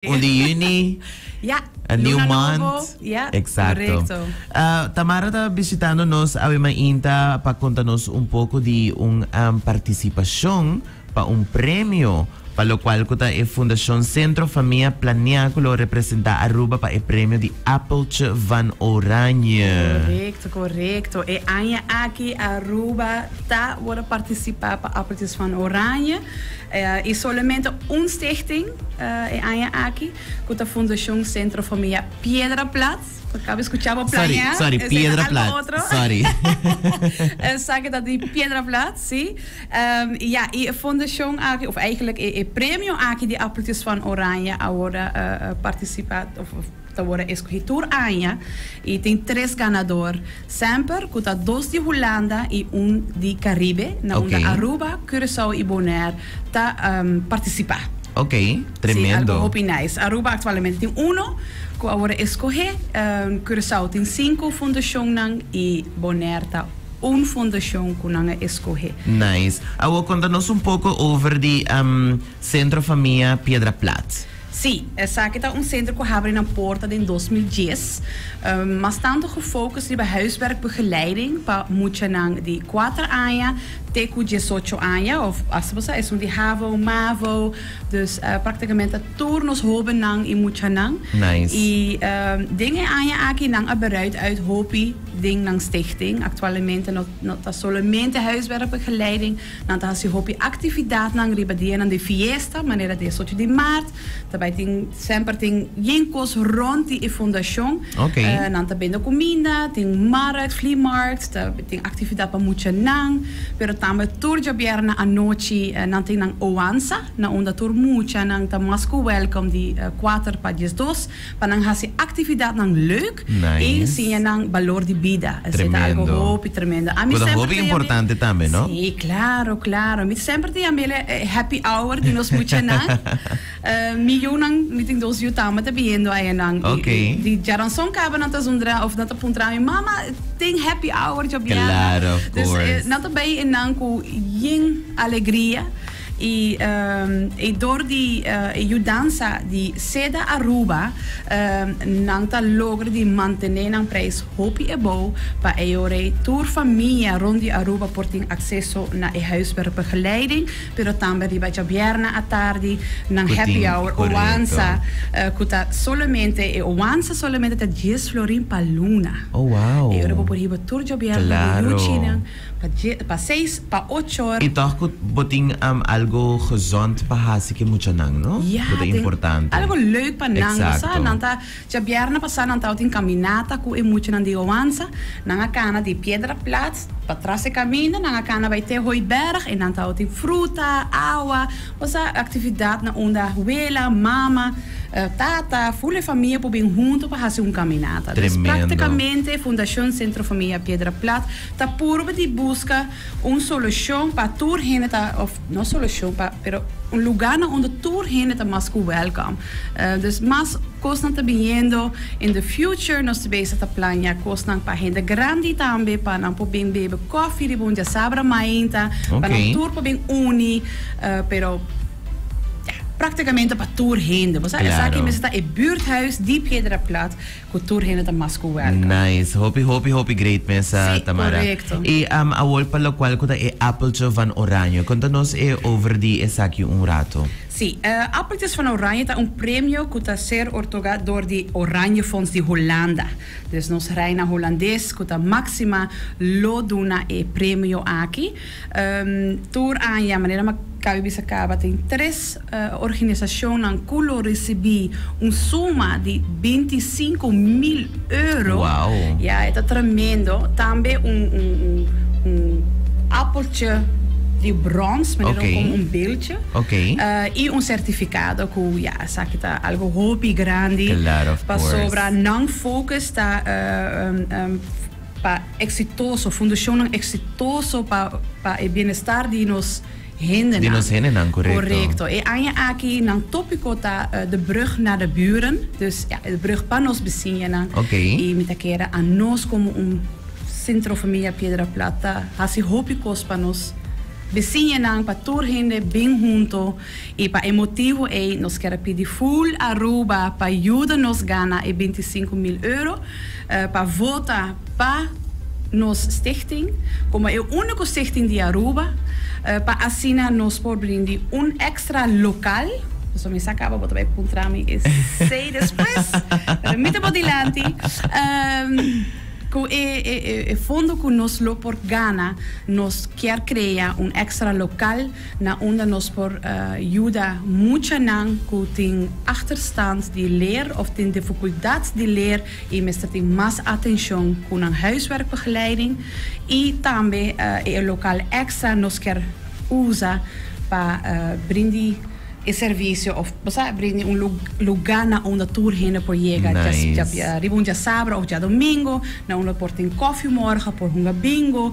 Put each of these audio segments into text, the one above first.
Juli, Juni. Ja, A new luna month. nobo. Ja, Exacto. korekto. Ah, Tamara ta bishitando nos awe mainta pa konta nos un poko di un am, partisipashon pa un premio pa lokual ku ta e Fundashon Sentro Famia Plania ku lo representá Aruba pa e premio di Apeltje van Oranje. Korekto, korekto. E aña aki Aruba ta wòrdu partisipá pa Apeltjes van Oranje. I solamente un stichting e aña aki ku ta Fundashon Sentro Famia Piedra Plat. Ku akaba skucha bo plaña esei ta algu otro. Esaki ta di Piedra Plat, si. I ya, i e fundashon aki, òf, eigentlik e premio aki di Appeltjes van Oranje awor a partisipa, òf. Ta worde eskohí tur aña i tin tres ganador semper ku ta dos di Hulanda i un di Karibe na unda Aruba, Curaçao i Bonaire ta partisipá. Ok, tremendo. Si, algu hopi nice. Aruba aktualmente tin uno ku a worde eskohé, Curaçao tin sinku fundashonnan i Bonaire ta un fundashon ku nan a eskohé. Nice. Awor konta nos un poko over di Centro Famia Piedra Plat. Sí, esaki ta un senter ku habri nan porta den dos mil dies, mas tantu gefocus riba huiswerkbegeleiding pa muchanan di kuater aña te ku diesocho aña of hasta pa sa esun di havo, mavo, dus praktikamente tur nos hobennan i muchanan. I den e aña aki nan a bereid uit hopi den nan stichting. Aktualmente no ta solomente huiswerkbegeleiding. Nan ta hasi hopi actividadnan riba dianan di fiesta, manera diesocho di maart, ta bay tin, semper tin bien cos rond di e fundacion. Oké. Nan ta bende cuminda, tin markt, vliemarkt, ta tin actividad pa muchanan, pero tambe tur djabièrnè anochi nan tin nan oansa, na unda tur muchanan ta mas cu welcome di kuater pa diesdos. pa nan hasi actividadnan leuk y siña nan balor di bida. Esey ta algo hopi tremendo. Ami semper ta yami. Cu ta hopi importante tambe, no? Sí, claro, claro. Mi semper ta yami el e happy hour di nos muchanan. Mi yunan, mi tin dos yu tambe ta biniendo ayanan. Ok. Di djaranzon caba nan ta zundra of nan ta puntra mi, Mama, tin happy hour djobia? Claro, of course. Dus nan ta bay enan cu yin alegria. I e dor di e yudansa di seda Aruba nan ta logra di mantené nan prijs hopi ebou pa eyorei tur famia rond di Aruba por tin acceso na e huiswerkbegeleiding pero tambe riba djabièrnè atardi nan happy hour owansa cu ta solamente e owansa solamente ta dies florin pa luna eyorei bo por hiba tur djabièrnè di yuchi nan. Pa dje, pa seis, pa ocho. I tòg ku bo tin algu gezond pa hasi ku e muchanan, no? Ya, Ku ta importante. tin algu leuk pa nan. Bo sa, nan ta, dje bièrnè pasá nan tabata tin kaminata ku e muchanan di Hoanza. Nan a kana di Piedraplaats pa tras e kaminda nan a kana bai te Hooiberg i nan tabata tin fruta, awa. Bo sa, aktividat na unda ahuela, mama, tata, ful e famia por bin huntu pa hasi un kaminata. Tremendo. Des praktikamente Fundashon Sentro Famia Piedraplaats. Ta purba di buska un solushon pa tur hende ta, òf no solushon pa, pero un lugá na unda tur hende ta mas ku wèlkòm. Dus mas kosnan ta biniendo in the future. Nos ta bisa ta plaña kosnan pa hende grandi tambe, pa nan por bin bebe kòfi riba un diasabra mainta, pa nan tur por bin uni, pero ya, práktikamente pa tur hende. Bo sa esaki mester ta e buurthuis di Piedra Plat. cu tur hende ta mas cu welcome. Nice. Hopi, hopi, hopi great mesa, Sí, Tamara. correcto. E am a wol pa locual cu ta e appeltje van Oranje. Conta nos e over di esaki un rato. Sí, e Appeltjes van Oranje ta un premio cu ta ser ortoga door di Oranjefonds di Holanda. Dus nos reina Holandes cu ta Maxima lo duna e premio aki. Tur aña, manera Macabi bisa caba, tin tres organisacionnan cu lo ricibi un suma di binti i sinku mil euro. Ya, e ta tremendo. Tambe un apeltje di brons, manera como un beltje, i un certificado cu ya, esaki ta algo hopi grandi, pasobra non focus ta. Pa eksitoso, fundashonnan eksitoso pa pa e bienestar di nos hendenan. Di nos hendenan, korekto. Korekto. E aña aki nan tópiko ta De brug naar de buren, dus ja, e brug pa nos bisiñanan. Oké. I mi ta kere anos komo un Sentro Familia Piedra Plata hasi hopi kos pa nos bisiñanan, pa tur hende bin hunto. I pa e motibu ei nos ker a pidi Full Aruba pa yuda nos gana e binti sinku mil euro pa vota pa nos stichting komo e úniko stichting di Aruba pa asina nos por brindi un èkstra lokal, pasobra mi sa kaba bo ta bai puntra mi esei despues, pero mi ta bo dilanti, ku e fondo ku nos lo por gana nos kier krea un èkstra lokal. na unda nos por yuda muchanan ku tin achterstand di leer òf tin difikuldat di leer i mester tin mas atenshon ku nan huiswerkbegeleiding. I tambe e lokal èkstra nos kier usa pa brindi e servisio òf bo sa brindi un lugá na unda tur hende por yega riba un diasabra òf diadomingo, na unda por tin kòfie morga, por hunga bingo.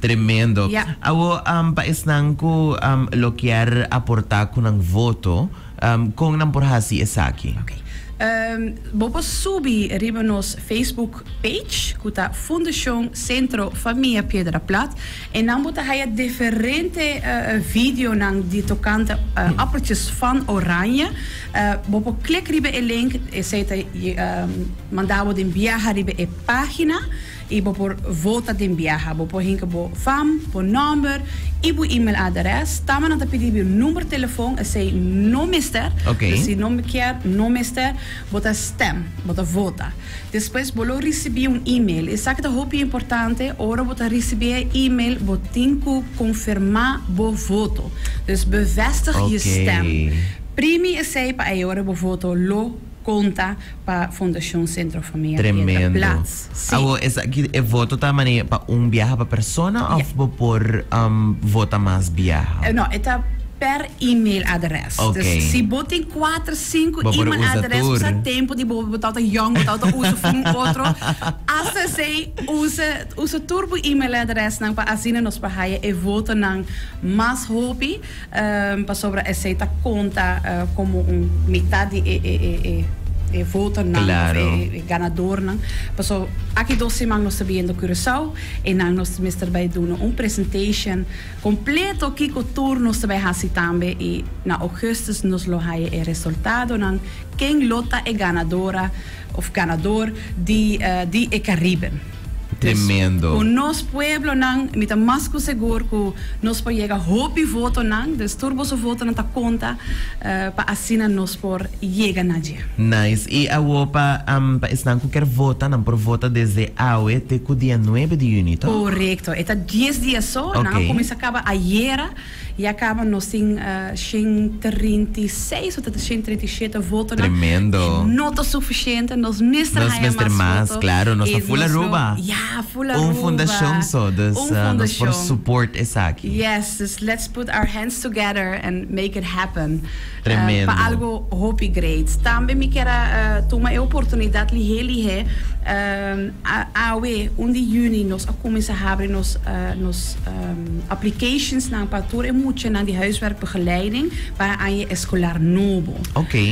Tremendo. Awor pa esnan cu lo kier aporta cu nan voto, con nan por haci esaki? Ok. Bo por subi riba nos Facebook page cu ta Fundacion Centro Famia Piedra Plat y nan bo ta haya diferente videonan di tocante appeltjes van oranje. Bo por klik riba e link, esey ta manda bo den biaha riba e pagina y bo por vota den biaha. Bo por hinca bo fam, bo nomber y bo email aderes. Tama nan ta pidi bo number telefon, esey no mester. Pues si no kier, no mester. Bo ta stem, bo ta vota. Despues bo lo ricibi un email. Esaki ta hopi importante, ora bo ta ricibi e email, bo tin cu confirma bo voto. Dus bevestig je stem. Primi esey pa ayora bo voto lo. Conta pa Fundacion Centro Famia Rieta Plaats. Si. Awor esaki e voto ta mane pa un biaha pa persona of bo por um vota mas biaha? No, e ta per e-mail adres. Okay. Dus si bo tin cuater, cinco Bo por e-mail usa adres, tur. usa tempo di bo, bo ta outa yong, bo ta outa usa for un otro. Hasta esey usa, usa tur bo e-mail adresnan pa asina nos por haya e votonan mas hopi. Pasobra esei ta konta komo un mitat di e votonan òf e ganadornan. Paso aki dos siman nos ta biendo Curaçao i nan nos mester bai duna un presentation kompleto kiko tur nos ta bai hasi tambe i na Augustus nos lo haya e resultadonan ken lo ta e ganadora òf ganador di e Caribe. Tremendo. Cu nos pueblonan, mi ta mas cu segur cu nos por yega hopi votonan, dus tur boso votonan ta conta pa asina nos por yega na dje. Nice. Y awo pa pa esnan cu ker vota, nan por vota desde awe te cu dia nuebe di juni, toch? Corecto. E ta dies dia so, nan a cuminsa caba ayera. Ya caba nos tin shen trinta i seis o ta ta shen trinta i shete votonan. Tremendo. E no ta suficiente. Nos mester Nos haya mester mas mas, voto. claro. Nos E ta full nos lo, Aruba. ya, full Un Aruba. fundacion so, dus Un ah, nos por fundacion. support esaki. Yes, dus let's put our hands together and make it happen. Pa algo hopi great. Tambe mi kier a tuma e oportunidad lihé lihé. Awe un di juni nos a cuminsa habri nos nos aplicationsnan pa tur e muchanan di huiswerkbegeleiding pa e aña escolar nobo.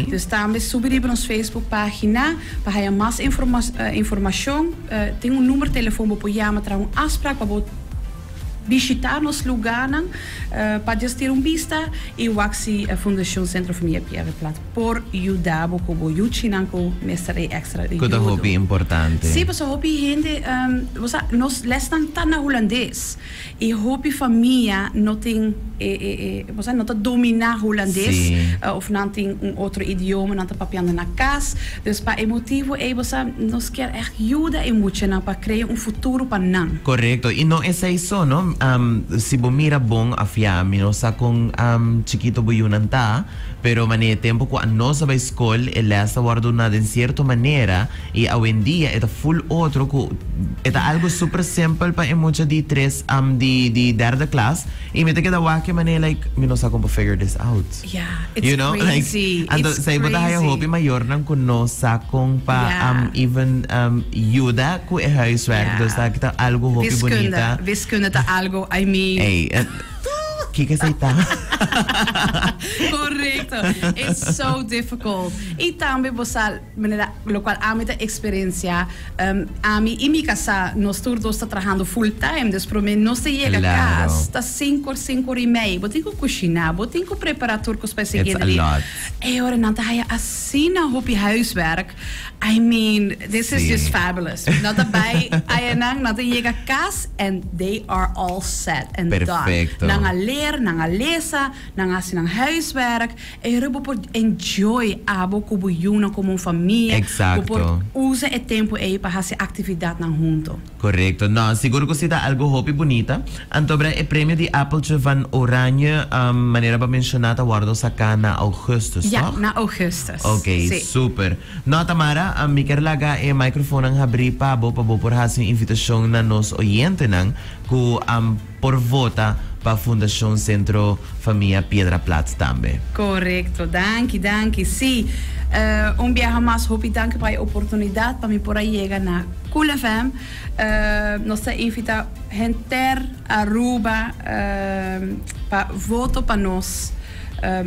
Dus tambe subi riba nos Facebook pagina pa haya mas informacion. Tin un numero telefon bo por yama traha un afspraak pa bo. Bishita nos lugarnan pa djastir un bista y wak si Fundacion Centro Familia Pierre Plaat por yuda bo cu bo yuchinan cu mester e extra yudo. Cu ta hopi importante. Si, pasobra hopi hende, bo sa, nos lesnan ta na Hulandes y hopi famia no tin e, e, bo sa, no ta domina Hulandes of nan tin un otro idioma nan ta papiando na cas, dus pa e motivo ey, bo sa, nos kier. Yuda e muchanan pa krea un futuro pa nan. Correcto. Y no esey so no. Si bo mira bon afia, mi no sa con chikito bo yunan ta, pero mane e tempo cu anos a bay scol e les ta wordo na den cierto manera y awendia e ta full otro cu e ta algo super simple pa e mucha di tres di derde klas y mi ta keda wak e mane like mi no sa con pa figure this out. Yeah, it's You know, like, crazy. anto It's esei bo ta haya crazy. hopi mayornan ku no sa kon pa Yeah. am even am yuda ku e huiswerk. Yeah. Dus aki ta algu hopi Wiskunde, bunita. wiskunde ta algo, I mean. Ey, eh, kiko esei ta? Correcto. It's so difficult. Y tambe bo sa Manera locual ami ta experiencia, ami y mi casá nos tur dos ta trahando full time, dus prome nos ta yega cas ta sincor, sincor y mei, bo tin cu cushina, bo tin cu prepara tur cos pa e siguiente dia, e ora nan ta haya asina hopi huiswerk, I mean this is just fabulous, nan ta bay aya nan, nan ta yega cas and they are all set and done, nan a leer, nan a lesa, nan a haci nan huiswerk. Era bo por enjoy abo ku bo yunan komo un famia. Bo por Exacto. usa e tempu ei pa hasi aktividatnan huntu. Korekto. No, sigur ku si ta algu hopi bunita. Antobra e premio di Appeltje van Oranje, manera bo a menshoná, ta wòrdu saká na ougùstùs, Ja, tòg? na ougùstùs. Oké, Sí. super. No, Tamara, mi ker laga e microfoonnan habrí pa bo pa bo por hasi un invitashon na nos oyentenan ku a. por vota pa Fundacion Centro Famia Piedra Plaats tambe. Correcto. Danki, danki. Sí, un biaha mas. Hopi danki pa e oportunidad pa mi por a yega na Cool FM. Nos ta invita henter Aruba pa voto pa nos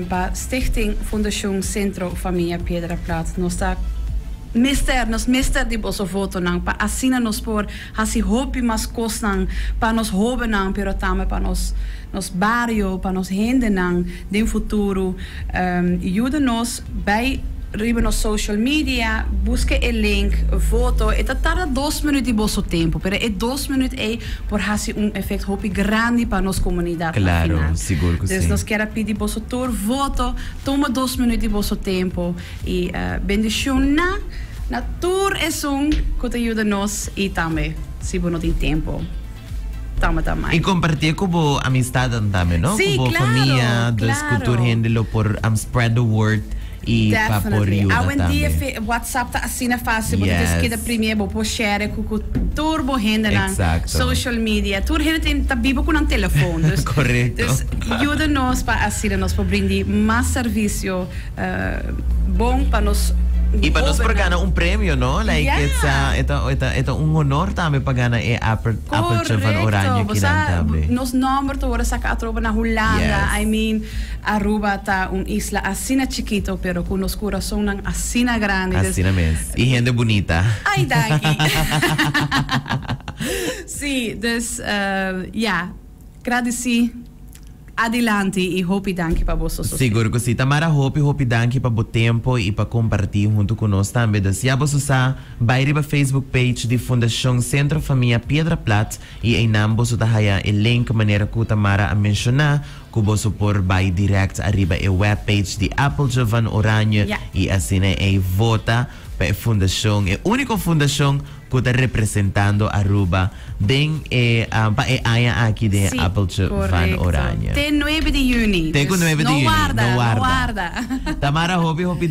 pa Stichting Fundacion Centro Famia Piedra Plaats. Nos ta mester, nos mester di boso votonan pa asina nos por. Hasi hopi mas kosnan pa nos hóbennan, pero tambe pa nos nos bario, pa nos hendenan den futuro. Yuda nos, bai riba nos social media, buska e link, voto. E ta tarda dos minüt di boso tempu, pero e dos minüt ei por hasi un efekt hopi grandi pa nos komunidat na final. Dus nos kier a pidi boso tur voto, tuma dos minüt di boso tempu. I bendishon na na tur esun ku ta yuda nos i tambe si bo no tin tempu tambe ta mai. I kompartie ku bo amistadan tambe no ku bo famia dus ku tur hende lo por spread the word i pa por yuda tambe. Awendia WhatsApp ta asina fasil bo ta djis keda primé bo por share ku ku tur bo hendenan social media tur hende tin ta biba ku nan telefon dus yuda nos pa asina nos por brindi mas servisio. bon pa nos gobernan. Y pa nos por gana un premio, no? Like e ta, e ta, e ta, e ta un honor tambe pa gana e aper, apertje van Oranje kinan tambe. Correcto. Bosa, nos nomber ta worde saca atroba na Hulanda. Yes. I mean, Aruba ta un isla asina chikito, pero cu nos curazonnan asina grandi. Dus. Asina mes. Y hende bunita. Ay, danki. Sí, dus, ya. Gradisí. Adilanti i hopi danki pa bo sososí. Sigur ku si, Tamara hopi hopi danki pa bo tempo i pa kompartí huntu ku nos tambe. Dor si abo su sa, bai riba Facebook page di Fundashon Sentro Famia Piedra Plat i einan bo su ta haya e link manera ku Tamara a menshoná ku bo su por bai dirèkt ariba e web page di Appeltje van Oranje i asina ei vota pa e fundashon, e úniko fundashon cu ta representando Aruba den e pa e aña aki den e Appeltje van Oranje. Te nuebe di juni, dus no warda, no warda. Tamara hopi hopi.